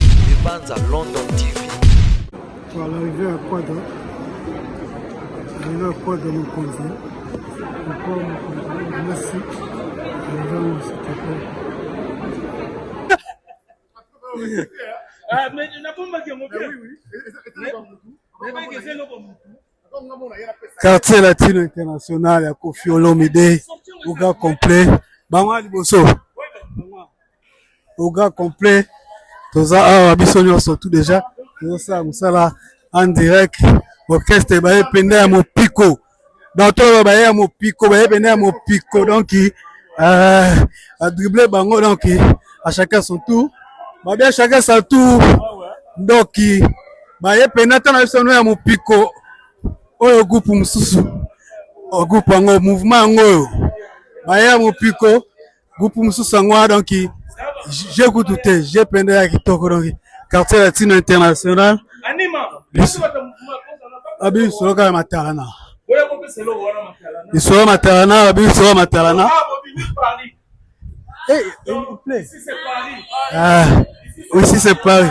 Libanza London TV. Kwa l'arrivée ya Kwada, arrivée ya Kwada mokonzi, mokwa mokonzi, merci, arrivée ya Mositoko. Ah, mais nabombaki yango bien. Nayebaki eza eloko motu. quartier latino international ya Koffi Olomide oga complet bango liboso oga complet toza awa biso nyonso tout déjà tozosala mosala en direct orchestre baye penda ya mopiko bato oyo baye ya mopiko baye penda ya mopiko donc euh, adrible bango donc à chacun son tour babia chacun son tour ndoki baye pena tala biso no ya mopiko oyo groupe mosusu oh, groupe yango mouvement yango oyo baye ya mopiko groupe mosusu yango wana donki je kutu te je penda ya kitoko donki quartier latino international babiso loka ya matalana biso ya matalana babiso ya matalana Hey, eh, eh, ah, aussi c'est Paris.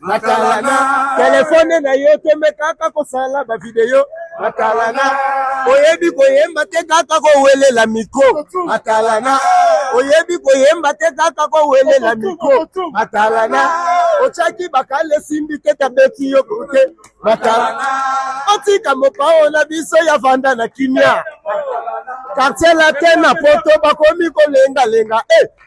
matalana telefone na yo tembe kaka kosala bavideo matalana oyebi koyemba te kaka kowelela mikro matalana oyebi koyemba te kaka kowelela mikro matalana otyaki bakale esimbi te tabeti yo kote matalana otika mopao na biso ya vanda na kimia kartier latin na poto bakomi kolengalenga e eh.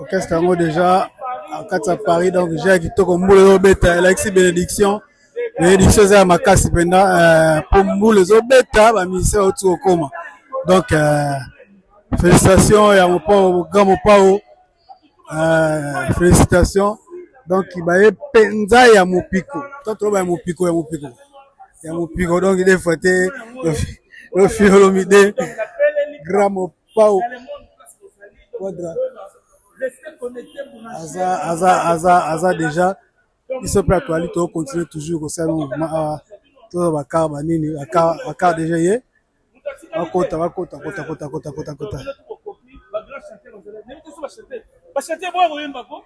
orchestre yango deja akati ya paris donc ja ya kitoko mbula ezobeta elakisi benediction benediction eza ya makasi mpenza euh, mpo mbula ezobeta bamusicien bauti kokoma donc euh, félicitation ya mopao grand mopao euh, félicitation donc baye mpenza ya mopiko to toloba ya mopiko ya mopiko ya mopiko donc defo te ofiolomide grand mopao Pau Quadra aza aza aza aza déjà biso mpe atoali to continuer toujours kosala mouvement awa toza bakar banini bakar déjà ye bakota bakota kota kota kota kota kota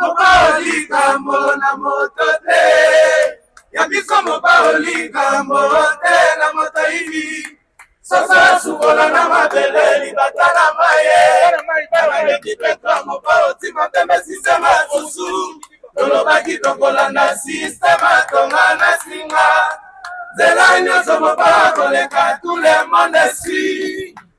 mobao likambo na moto te ya biso mobao likambo te na moto yimi sasa sukola na mabele libata na maye aleki petro mobao tima pembe sistema susu tolobaki tokolanda sistema tonga na singa nzela nyonso mobao koleka tout le monde si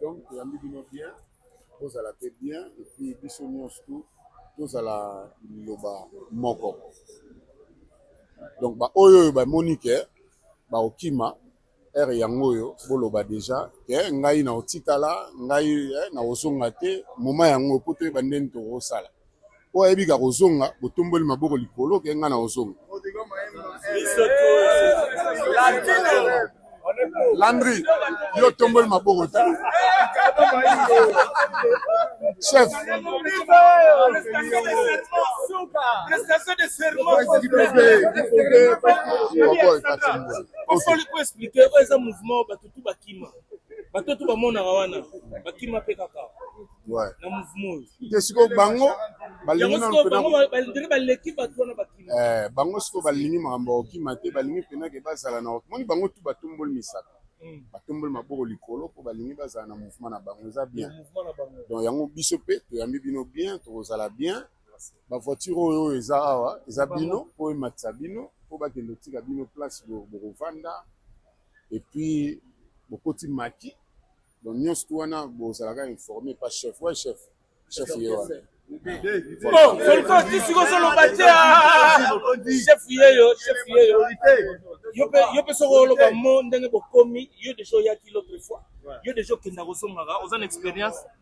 donc toyambi bino bien bozala mpe bien epuis biso nyonso tu tozala liloba moko donc baoyo oyo bamoni ke bakokima Heure yango oyo boloba dejà que ngai nako tikala ngai nako zonga te moment yango oyo po toyeba ndenge toko sala oyo ayebi ke ako zonga bo tomboli maboko likolo ke ngai nako zonga. Landry yo otomboli maboko te chef osali ko explique oyo eza mouvement bato tu bakima bato tu bamonaka wana bakima mpe kaka na mouvement oyo te sikoyo bango balingibandire baleki bato wana bakima eh, bango sikoyo balingi makambo ya kokima te balingi mpenake bazala na moni bango tu batomboli misaka hmm. batomboli maboko likolo mpo balingi bazala na mouvement na bango eza bien donc yango biso mpe toyambi bino bien tokozala bien Ba voiture oyo oyo eza awa eza bino po ematisa bino po bakende kotika bino place bokovanda epuis bokoti maki donc nyonso tu wana bozalaka informe pa chef wa chef chef ye wana volko tisiko ozoloba te chef yeyo chef yeyo yo mpe soki oloba mo ndenge bokomi yo deja oyaki l'autre fois yo deja okenda kozongaka oza na experience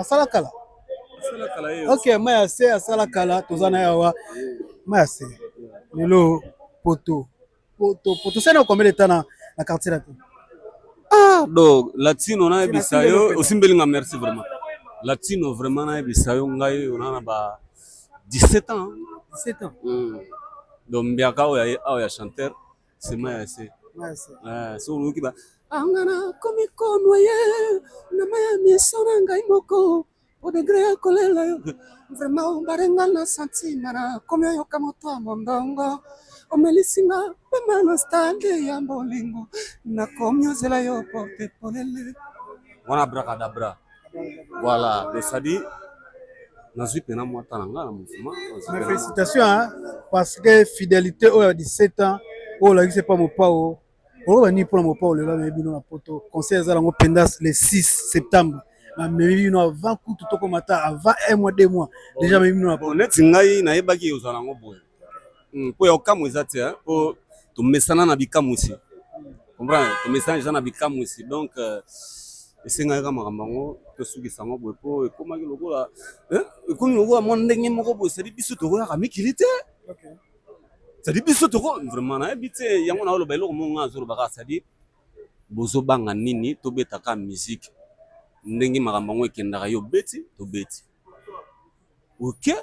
asala kala ok mai ya se asala kala toza na yawa mai ya se lelo poto poto poto se na combien de temps na na quartier latin ah do latino nayebisa yo osimbeli nga merci vraiment latino vraiment nayebisa yo ngai ona na ba 17 ans 17 ans mm. donc mbiaka oyo awa ya chanteur sema ya se ah, so oyoki ba anga na komi konwa ye na mai ya miso na ngai moko odegre ya kolela yo vraimen obarenga na santima na komi oyoka moto ya mondongo omelisi nga pema na stande ya bolingo nakomi ozela yo porte polele wana brakadabra Voilà, donc ça dit, nazwi mpena mwa ta na ngai na mouvement. Mais félicitations hein, parce que fidélité oyo ya 17 ans oyo olakisi epa mopao oloba nini mpo na mopao lelo amemi bino na poto conseil eza yango mpenza le 6 septembre bamemi bino avant kutu tokoma ta avant un mois deux mois déjà amemi bino na poto neti ngai nayebaki ozala yango boye hmm, po ya kokamwa eza te po tomesana na bikamwisi comprendre tomesana eza na bikamwisi donc euh, esengaka makambo yango tosukisa yango boye po ekomaki lokola eh, ekomi lokola mwa ndenge moko boye sadi biso tokoyaka mikili te sadi biso toko vraiment nayebi te yango naoloba eloko moko ngai azoloba kaka sadi bozobanga nini tobetaka miziki ndenge makambo yango ekendaka yo obeti tobeti oke okay.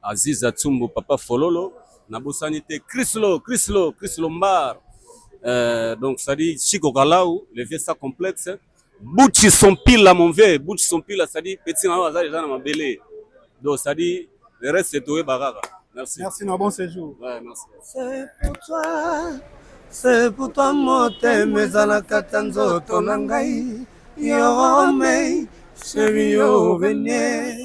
Aziza Tsumbu Papa Fololo na bosani te Chryslo Chryslo Chryslo Mbar euh, donc ça dit Chico Galau le vieux sa complexe Butchi son pile là mon vieux Butchi son pile là ça dit petit na aza déjà na mabele donc ça dit le reste c'est toi baraka merci merci na bon séjour ouais merci c'est pour toi c'est pour toi motema ezalaka ta nzoto na ngai yo mei chéri yo venez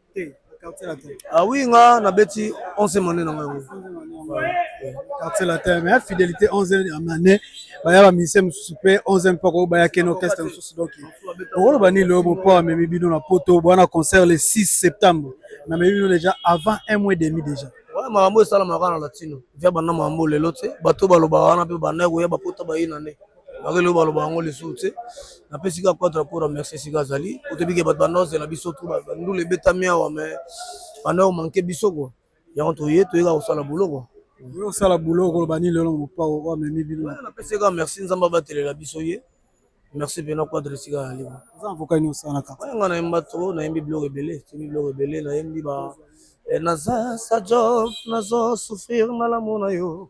Ah oui, nga na beti 11 monnaie na ngai. Quartier latin, mais fidélité 11 monnaie, ba ya ba musiciens mususu pe 11 mpo ko ba ya ken orchestre mususu donc. Okolo ba ni lobo po amemi bino na poto, bwana concert le 6 septembre. Na memi bino déjà avant un mois et demi déjà. Ouais, makambo esalamaka na latino. Via banda makambo lelo te, bato balobaka wana pe banda koya bapota bayina nde. bakeloba loba yango lisusu te napesi kaka quatre pour remercie esika azali otebike bato bandozela biso tu bandula ebetami awa me banda omanke biso kua yango toye toyeka kosala bulo kua osala bulo koloba nini lelo mopao oyo amemi bino napesi kaka merci nzambe abatelela biso ye merci mpena quadre esika azali oza avoka nini osalaka nga nayemba to nayembi biloko ebele timi biloko ebele nayembi ba eh, naza sa job nazo souffrir na lamo na yo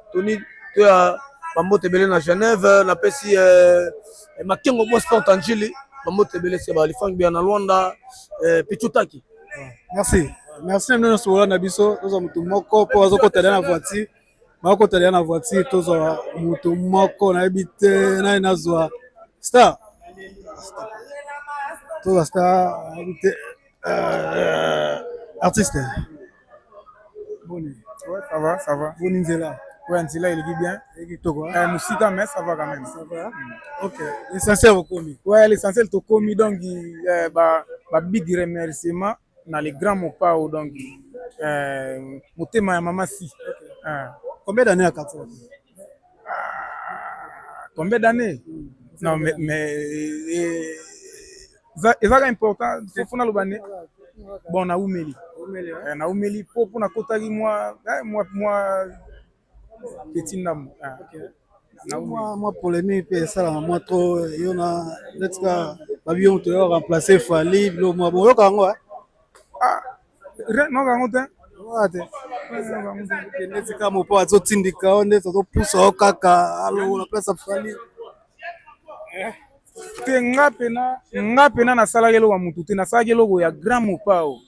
toni to ya bambote ebele na genève napesi eh, eh, makengo bo sport anjili bambote ebele se balifangi bia na lwanda eh, pichutaki merci merci na bino nyonso bola na biso tozwa motu moko mpo azokota na voiture bakota deya na voiture tozwa moto moko nayebi te naye nazwa star tozwa star nayebi te euh, artiste boni ouais ça va ça va boni nzela ouais nzela eleki bien eleki toko eh musika mais ça va quand même ça va hmm. ok l'essentiel okomi ouais l'essentiel tokomi donc euh, ba ba big remerciement na le grand mopao donc euh, motema ya mama si okay. euh. combien d'années à katwa ah, combien d'années hmm. non mais, mais euh, ezaka important fofo naloba ne bon naumeli eh, naumeli po mpo nakotaki mwa eh, mwa mwa petit ndambo ah, mwa polémique mpe esalaka mwa trop yo na netika babiyo moto yo remplace fali bilo mwa boyoka yango eh? ah, noka yango te noka te kende tika mopo azotindika yo nde tozopusa yo kaka alongola place afali eh. te nga pena nga pena nasalaki eloko ya motu te nasalaki eloko ya grand mopao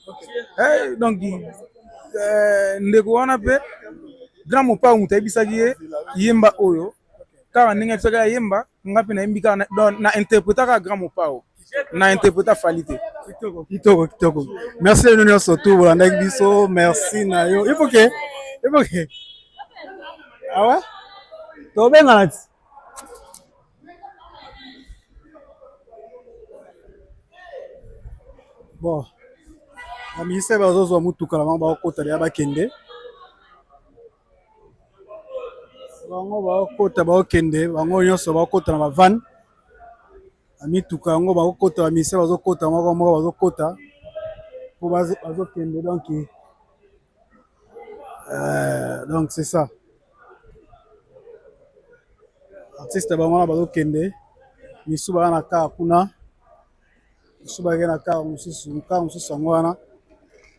eh, donc eh, ndeko wana mpe grand mopao moto ayebisaki ye yemba oyo kaka ndenge atisaki ayemba nga mpe nayembi kaka na interpretaka grand mopao na interpreta fali te kitoko kitoko merci bino nyonso tu bolandaki biso merci na yo ifoke ifoke awa tobengana ti bon baministre bazozwa motuka na bango bakokota deya bakende bango bakota bakokende bango nyonso bakota na bavane na mituka yango bakokota bamise bazokota moko moko bazokota po bazokende donki eh, donc c'est ça artiste bango wana bazokende misu baa na kaa kuna Basusu bakei na kar mosusu kar mosusu yango wana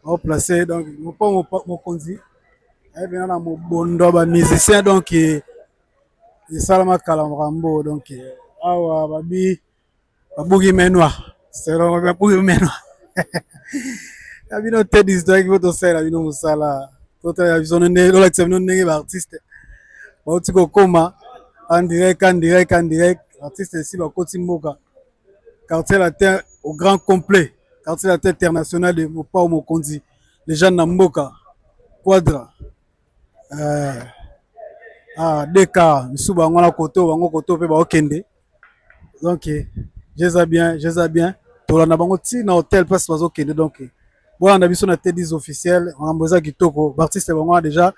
ao place donc mopo mokonzi aye mpena na mobondo ya bamusicien donk esalama kala mokambo donk awa babi babuki menwa selongo babuki menwa ya bino te distraki po tosalela bino mosala totalela biso ndenge tolakisa bino ndenge baartiste bauti kokoma andirek andirek andirek artiste esi bakoti mboka quartier latin au grand complet quartier latin international de mopao mokonzi lejane na mboka quadra euh, ah, deka misusu bango wana koto bango koto mpe baokende donc jeza bien jeza bien tolanda bango ti na hotel place bazokende donc bolanda biso na tedis officiel makambo eza kitoko baartiste bango wana deja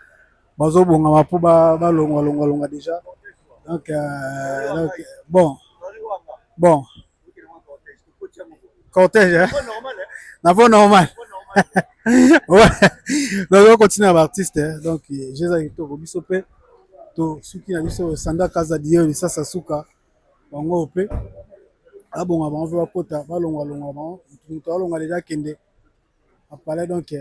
bazobongama mpo balongwa longwa longwa deja donc euh, bon bon cortège na vo normal donc continue na baartiste donc jeza kitoko biso mpe tosuki na biso sanda kaza diyo lisasa suka bango mpe abonga bango mpe bakota balongwa longwa bango moto alonga deja akende na palais donc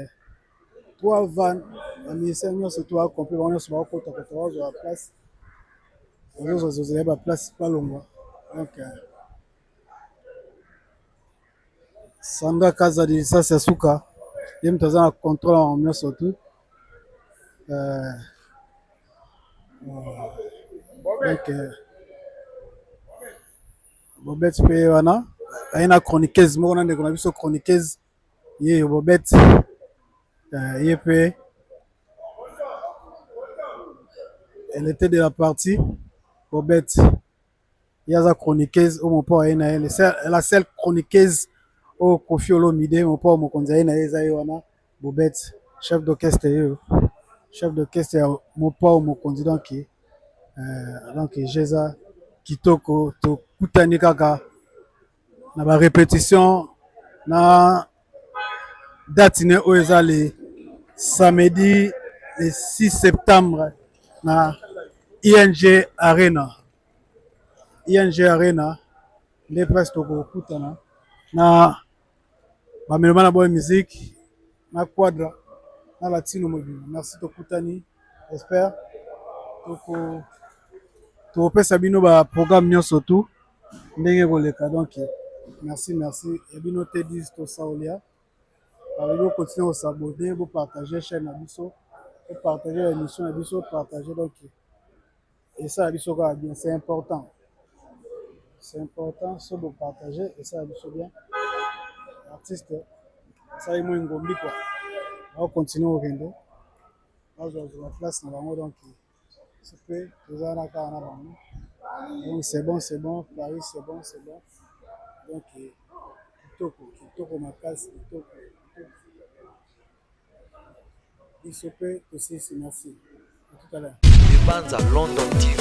po avanda ba musiciens nionso tout ba compris bango nionso bazo kota kota bazo zua ba place bazo zua zela ba place po alongua donc Sandra Kazadi lisasi ya suka ye moto aza na contrôle yango nionso tout euh, euh, donc euh, Bobet pe wana aye na chroniqueuse moko na ndeko na biso chroniqueuse ye yo Bobet euh, ye pe elle était de la partie Bobet ye aza chroniqueuse oyo mopa aye na ye la seule chroniqueuse oyo Koffi Olomide mopa mokonzi aye na ye eza ye wana Bobet chef d'orchestre yo chef d'orchestre ya mopao mokonzi donc donc je eza kitoko tokutani kaka na ba repetition na date ne oyo eza le samedi le 6 septembre na ing arena ing arena nde place tokokutana na Bamelo bana boye musique na quadra na latino mobimba merci tokutani j'espère toko tokopesa bino ba programme nyonso tout ndenge ekoleka donc merci merci ya bino te dis tosaolia balobi okontinue kosabode bopartage chaîne na biso bopartage ba émission na biso partage donc esala biso kaka bien c'est important c'est important so bo partager esala biso bien artiste asali mwa engombi kua ao continue kokende bazwa zwa place na bango donc sope toza na kaka na bango donc c'est bon c'est bon paris c'est bon c'est bon donc kitoko kitoko makasi kitoko Biso pe tosilisi na se. Libanza London TV.